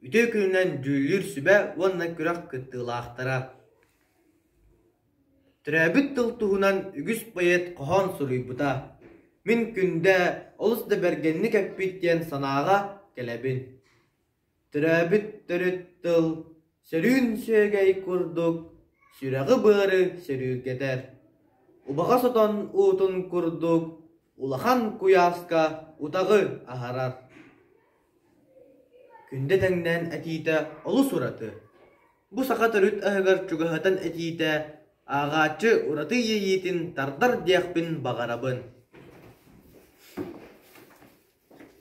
Үтүө күнүнэн дьүүллүүр сүбэ уонна күрэх кыттыылаахтара! Төрөөбүт тыл туһунан үгүс поэт хоһоон суруйбута. Мин Күндэ олус да бэргэнник эппит диэн санааҕа кэлэбин Төрөөбүт төрүт тыл сөрүүн сүөгэй курдук сүрэҕи-быары сөрүүргэтэр, убаҕа сотон уутун курдук улахан куйааска утаҕы аһарар. Күндэ тэҥнээн этиитэ олус ураты. Бу саха төрүт аһыгар чугаһатан этиитэ ааҕааччы ураты иэйиитин тардар диэхпин баҕарабын.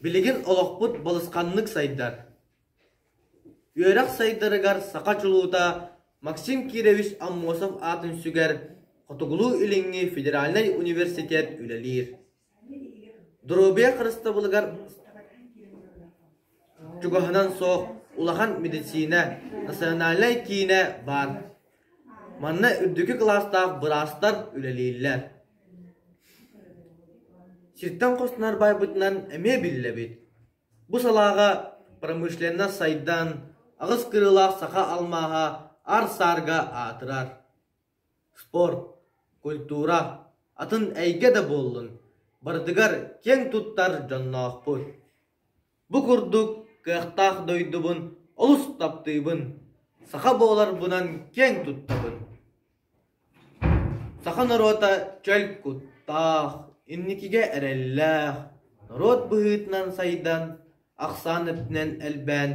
Билигин олохпут балысханнык сайдар. Үөрэх сайдарыгар саха чулуута Максим Кирович Аммосов аатын сүгэр Хотугулуу-Илиҥҥи федеральнай университет үлэлиир. Доруобуйа харыстабылыгар чугаһынан суох улахан медицинэ, национальнай киинэ баар. Манна үрдүкү кылаастаах быраастар үлэлииллэр. Сиртэн хостонор баайбытынан эмиэ биллэбит, бу салааҕа промышленнас сайдан, аҕыс кырыылаах саха алмааһа ар-саарга аатырар. Спорт, культура, атын эйгэ да буоллун, барытыгар киэҥ туттар дьонноохпут Бу курдук кыахтаах дойдубун олус таптыыбын, саха буоларбынан киэҥ туттабын. Саха норуота чөл куттаах, инникигэ эрэллээх, норуот быһыытынан сайдан, ахсаан өттүнэн элбээн,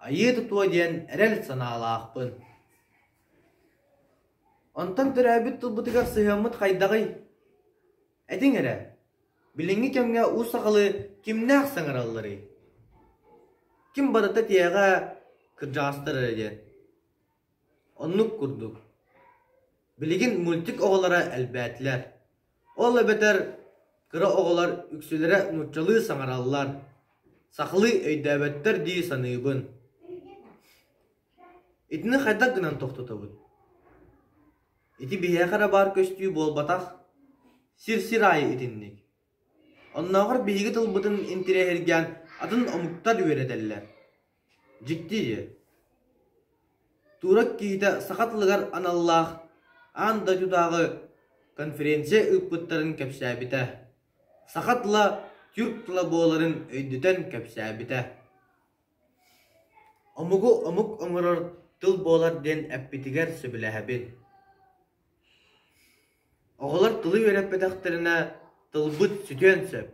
айыы тутуо диэн эрэл санаалаахпын. Онтон төрөөбүт тылбытыгар сыһыаммыт хайдаҕый? Этиҥ эрэ, билиҥҥи кэмҥэ уус сахалыы кимнээх саҥаралларый? Ким барыта тиэҕэ кырдьаҕастар эрэ диэн. Оннук курдук. Билигин мультик оҕолоро элбээтилэр. Ол эбэтэр кыра оҕолор үксүлэрэ нууччалыы саҥараллар. Сахалыы өйдөөбөттөр дии саныыбын. Итини хайдах гынан тохтотобут? Ити биһиэхэ эрэ баар көстүү буолбатах, сир-сир аайы итинник. Оннооҕор биһиги тылбытын интириэһиргээн атын омуктар үөрэтэллэр. Дьикти дьэ. Турок киһитэ саха тылыгар аналлаах аан дойдутааҕы конференция ыыппыттарын кэпсээбитэ. Саха тыла, түрк тыла буоларын өйдөтөн кэпсээбитэ. Омугу омук оҥорор тыл буолар диэн эппитигэр сөбүлэһэбин. Оҕолор тылы үөрэппэтэхтэринэ, тылбыт сүтүөн сөп.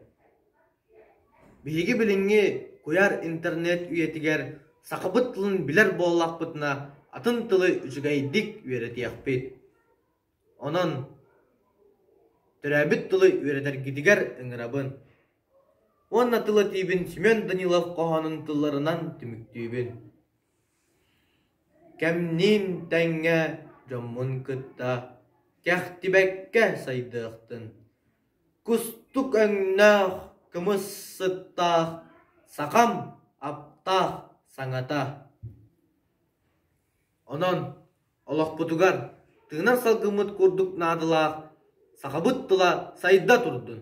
Биһиги билиҥҥи куйаар интернет үйэтигэр сахабыт тылын билэр буоллахпытына, атын тылы үчүгэйдик үөрэтиэхпит Онон төрөөбүт тылы үөрэтэргитигэр ыҥырабын уонна тыл этиибин Семен Данилов хоһоонун тылларынан түмүктүүбүн. Кэмниин тэҥҥэ дьоммун кытта кэхтибэккэ сайдыахтын. Кустук өҥнөөх, кымыс сыттаах, сахам аптаах саҥата. Онон олохпутугар тыынар салгыммыт курдук наадалаах сахабыт тыла сайда турдун!